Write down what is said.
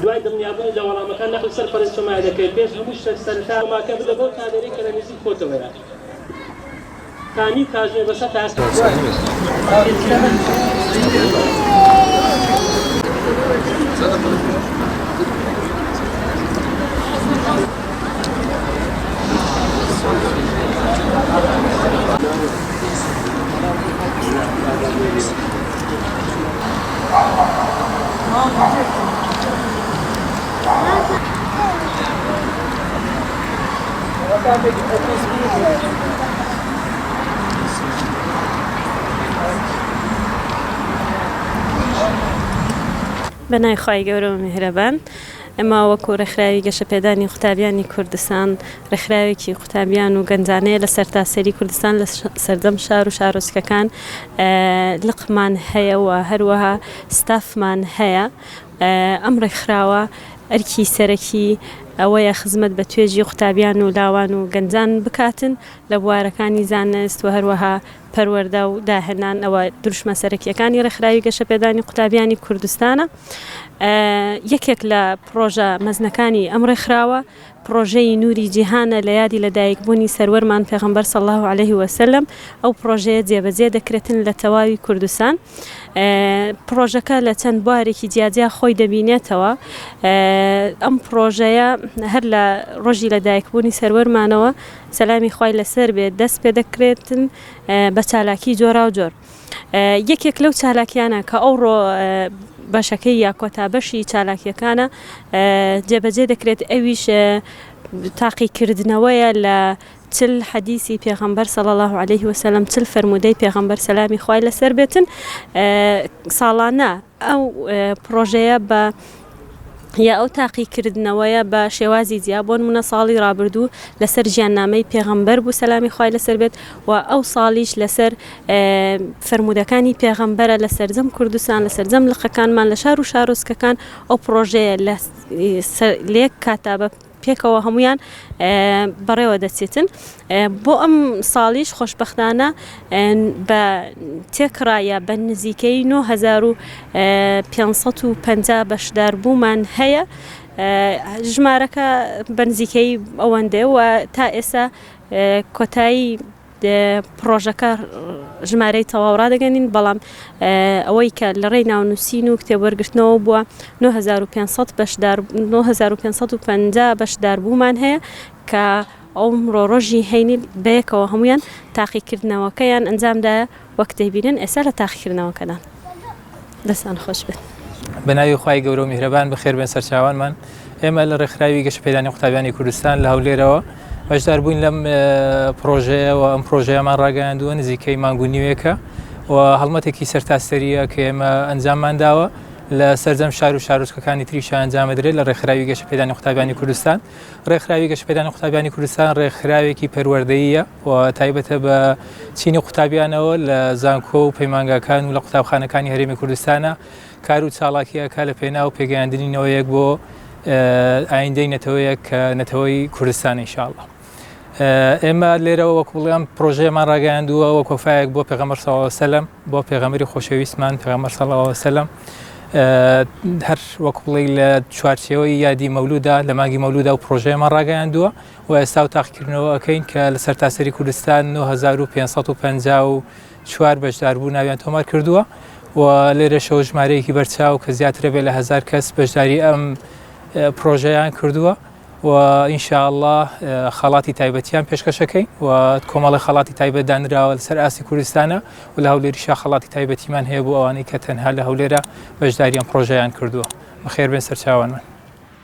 دوای دڵنیابوونی لە وەڵامەکان نەقڵی سەر پەڕی سۆمایا دەکەیت پێش هەموو شتێک سەرەتا سۆماکە بدە بەو کامێرەی کە لە نزیک خۆتەوەیە تا نیو کاتژمێر بەسەر تاسەکە بەناوی خوای گەورە و میهرەبان. ئێمە وەکو ڕێکخراوی گەشەپێدانی قوتابیانی کوردستان، ڕێکخراوێکی قوتابیان و گەنجانەیە لە سەرتاسەری کوردستان لە سەردەم شار و شارۆچکەکان لقمان هەیە و هەروەها ستافمان هەیە. ئەم ڕێکخراوە ئەرکی سەرەکی ئەوەیە خزمەت بە توێژی قوتابیان و لاوان و گەنجان بکاتن لە بوارەکانی زانست و هەروەها پەروەردە و داهێنان ئەوە دروشمە سەرەکییەکانی ڕێکخراوی گەشەپێدانی قوتابیانی کوردستانە. یەکێک لە پڕۆژە مەزنەکانی ئەم ڕێکخراوە پڕۆژەی نوری جیهانە لە یادی لەدایکبوونی سەروەرمان پێغمبەر صلی الله علیه و سلم ئەو پڕۆژەیە جێبەجێ دەکرێتن لە تەواوی کوردستان پڕۆژەکە لە چەند بوارێکی جیاجیا خۆی دەبینێتەوە ئەم پڕۆژەیە هەر لە ڕۆژی لەدایکبوونی سەروەرمانەوە سەلامی خوای لەسەر بێت دەست پێدەکرێتن بە چالاکی جۆراو جۆر یەکێک لەو چالاکیانە کە ئەوڕۆ بەشەکەی یا کۆتا بەشی چالاکیەکانە جێبەجێ دەکرێت ئەویش تاقیکردنەوەیە لە چل حەدیسی پێغەمبەر صلی الله عليه وسلم چل فرموودەی پێغەمبەر سەلامی خوای لەسەر بێتن ساڵانە ئەو پڕۆژەیە بە یا ئەو تاقیکردنەوەیە بە شێوازی جیا بۆ نمونە ساڵی ڕابردوو لەسەر ژیاننامەی پێغەمبەر بوو سەلامی خوای لەسەر بێت و ئەو ساڵیش لەسەر فرموودەکانی پێغەمبەرە لە سەرجەم کوردستان لە سەرجەم لقەکانمان لە شار و شارۆچکەکان ئەو پرۆژەیە لە لێک کاتابە پێکەوە هەموویان بەڕێوە دەچێتن بۆ ئەم ساڵیش خۆشببختانە بە تێکڕایە بە نزیکەی 9550 بەشدار بوومان هەیە ژمارەکە بەنزیکەی ئەوەندەیە و تا ئێستا کۆتایی پڕۆژەکە ژمارەی تەواو ڕادەگەنین بەڵام ئەوەی کە لە ڕێی ناونووسین و کتێبوەرگرتنەوە بووە 9500 بەشدار 9550 بەشدار بوومان هەیە کە ئەو ڕۆژی هەینی بەیەکەوە هەمویان تاقیکردنەوەکەیان ئەنجامدا وەک دەیبینن ئێستا لە تاقیکردنەوەکەدان. دەستان خۆش بێت. بە ناوی خوای گەورە و میهرەبان بەخێربێن سەرچاوانمان ئێمە لە ڕێکخراوی گەشەپێدانی قوتابیانی کوردستان لە هەولێرەوە بەشدار بووین لەم پرۆژەیەوە ئەم پرۆژەیەمان ڕاگەیاندووە نزیکەی مانگو نیوێکە و هەڵمەتێکی سەرتاسەریە کە ئێمە ئەنجاممان داوە لە سەرجەم شار و شارۆچکەکانی تریشە ئەنجامەدرێت لە ڕێکخراوی گەشەپێدانی قوتابیانی کوردستان ڕێکخراوی گەشەپێدانی قوتابیانی کوردستان ڕێکخراوێکی پەروەردەیە و تایبەتە بە چینی قوتابیانەوە لە زانکۆ و پەیمانگاکان و لە قوتابخانەکانی هەرێمی کوردستانە کار و چاڵاکیەکە لە پێناو پێگەیاندنی نەوەیەک بۆ ئایندەی نەتەوەیەک کە نەتەوەی کوردستان انشاءاللە ئێمە لێرەوە وەکو بڵێم پرۆژەیەمان ڕاگەیاندووە وە کۆفایەک بۆ پێغەمەر سەلم بۆ پێغەمەری خۆشەویستمان پێغەمەر سەڵاوسلم هەر وەکوڵی لە چوارچەوەی یادی مەولودا لە ماگی مەولودا و پرۆژەیەمان ڕاگەیاندووە و ئێستا و تاقیکردنەوە ئەکەین کە لە سەرتاسەری کوردستان 9554 بەشداربوو ناویان تۆمار کردووە و لێرەشەوە ژمارەیەکی بەرچاو کە زیاترە بێ لە هزار کەس بەشداری ئەم پرۆژەیان کردووە و ئینشاءله خەڵاتی تایبەتیان پێشکەشەکەی و کۆمەڵی خەڵاتی تایبەت دانراوە لەسەر ئاسی کوردستانە و لە هەولێری شا خەڵاتی تایبەتیمان هەیە بۆ ئەوانەی کە تەنها لە هەولێرە بەشداریان پرۆژیان کردووە بەخێربێن سەرچاوانمان.